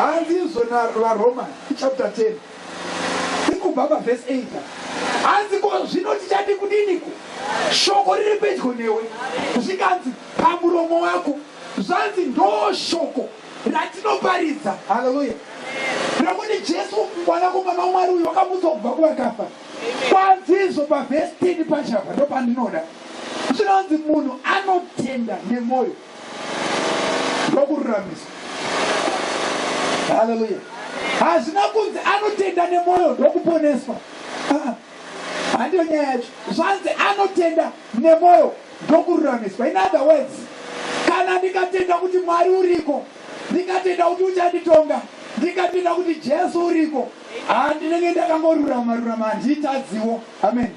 hanzi izvo navaroma chapter 10 ikubva pavhesi 8 hanzi ko zvino tichadi kudiniko shoko riri pedyo newe zvikanzi pamuromo wako zvanzi ndoo shoko ratinoparidza haleluya nekuti jesu mwanakomana wamwari uyo wakamutswa kubva kuvakafa kwanzi izvo pavhesi 10 pachapa ndopandinoda zvinonzi munhu anotenda nemwoyo ndokururamiswa haleluya hazvina kunzi anotenda nemwoyo ndokuponeswa ah, handiyo nyaya yacho zvanzi anotenda nemwoyo ndokururamiswa in other words kana ndikatenda kuti mwari uriko ndikatenda kuti uchanditonga ndikatenda kuti jesu uriko handinenge ndakangorurama rurama handitadziwo amen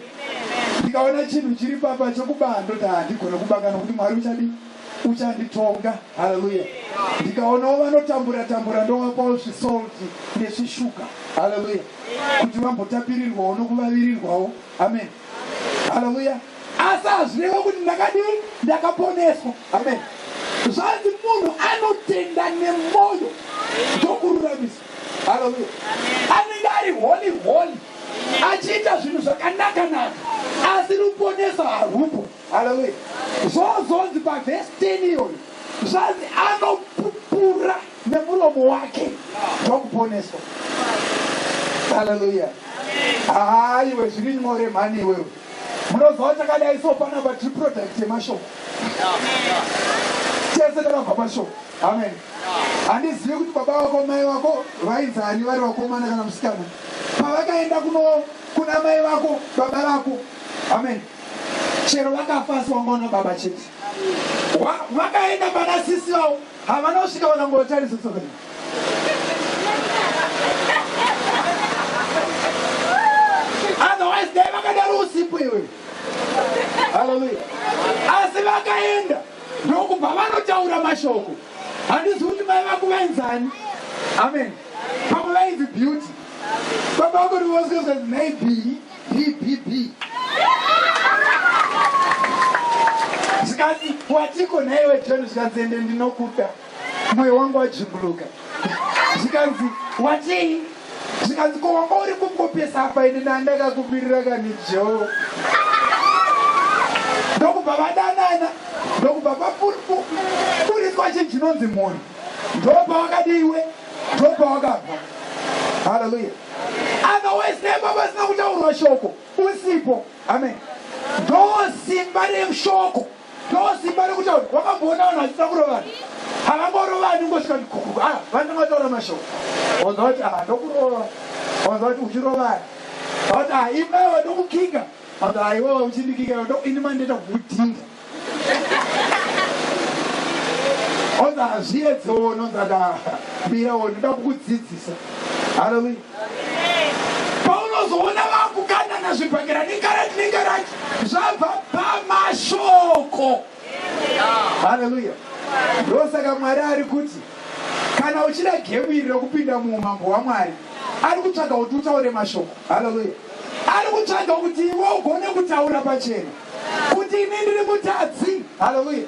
ndikaona chinhu chiri papa chokubaa ndoti handigona kubaka nokuti mwari uchadi uchanditonga haleluya ndikaonawo vanotambura tambura ndovapawo zvisolti nezvishuga haleluya kuti vambotapirirwawo nokuvavirirwawo amen haleluya asi hazvireve kuti ndakadii ndakaponeswa amen zvanzi munhu anotenda nemwoyo ndokururamiswa haleluya anenge ari holy holy achiita zvinhu zvakanaka-naka asi ruponeso harwupo haleluya zvozonzi pavhesi 10 iyoyo zvanzi anopupura nemuromo wake ndokuponeswa haleluya haa iwe zviri nyore mhani iwewe munoziva kuti akadai so panapa tiri product yemashoko tese takabva pashoko amen Handizivi kuti baba vako mai vako vainzi ani vari vakomana kana musikana pavakaenda kuno kuna mai vako baba vako amen chero vakafa asi wanga una baba chete vakaenda pana sisi vavo havana kusvika vakangotarisa soka otherwise dai vakadaro usipo iwe haleluya asi vakaenda ndokubva vanotaura mashoko handizivi kuti mai vangu vainzani amen pamwe vainzi beauty baba vangu ndivosikazika nhai bii bbb zvikanzi watiko nhaiwe john zvikanzi ende ndinokuda moyo wangu wajinguluka zvikanzi watii zvikanzi ko wanga uri kukopesa apa ini nandakakumirira kani jo ndokubva vadanana ndokubva vapuriswa chinhu chinonzi mhuri ndobva wakadiiwe ndobva wakabva haleluya otherwise nemba vasina kutaurwa shoko usipo amen ndosimba reshoko ndosimba rekutaura wakamboona vanhu vachiita kurovana havangorovani ungosvika ndikukuku a ah, vanenge vataura mashoko wanza vati a ah, ndokurova wanza vati uchirovana vati a ah, imaiwa ndokukinga vati aiwa uchindikinga ini mandiita kukudhinda onza hazviedzewo nonzaka mira wo ndoda kukudzidzisa haleluya paunozoona vakukanana zvibhakera nengarati nengarati zvabva pamashoko haleluya ndosaka mwari ari kuti kana uchida gemu iri rekupinda muumambo hwamwari ari kutsvaga kuti utaure mashoko haleluya ari kutsvaga kuti iwe ugone kutaura pachena kuti ini ndiri mutadzi haleluya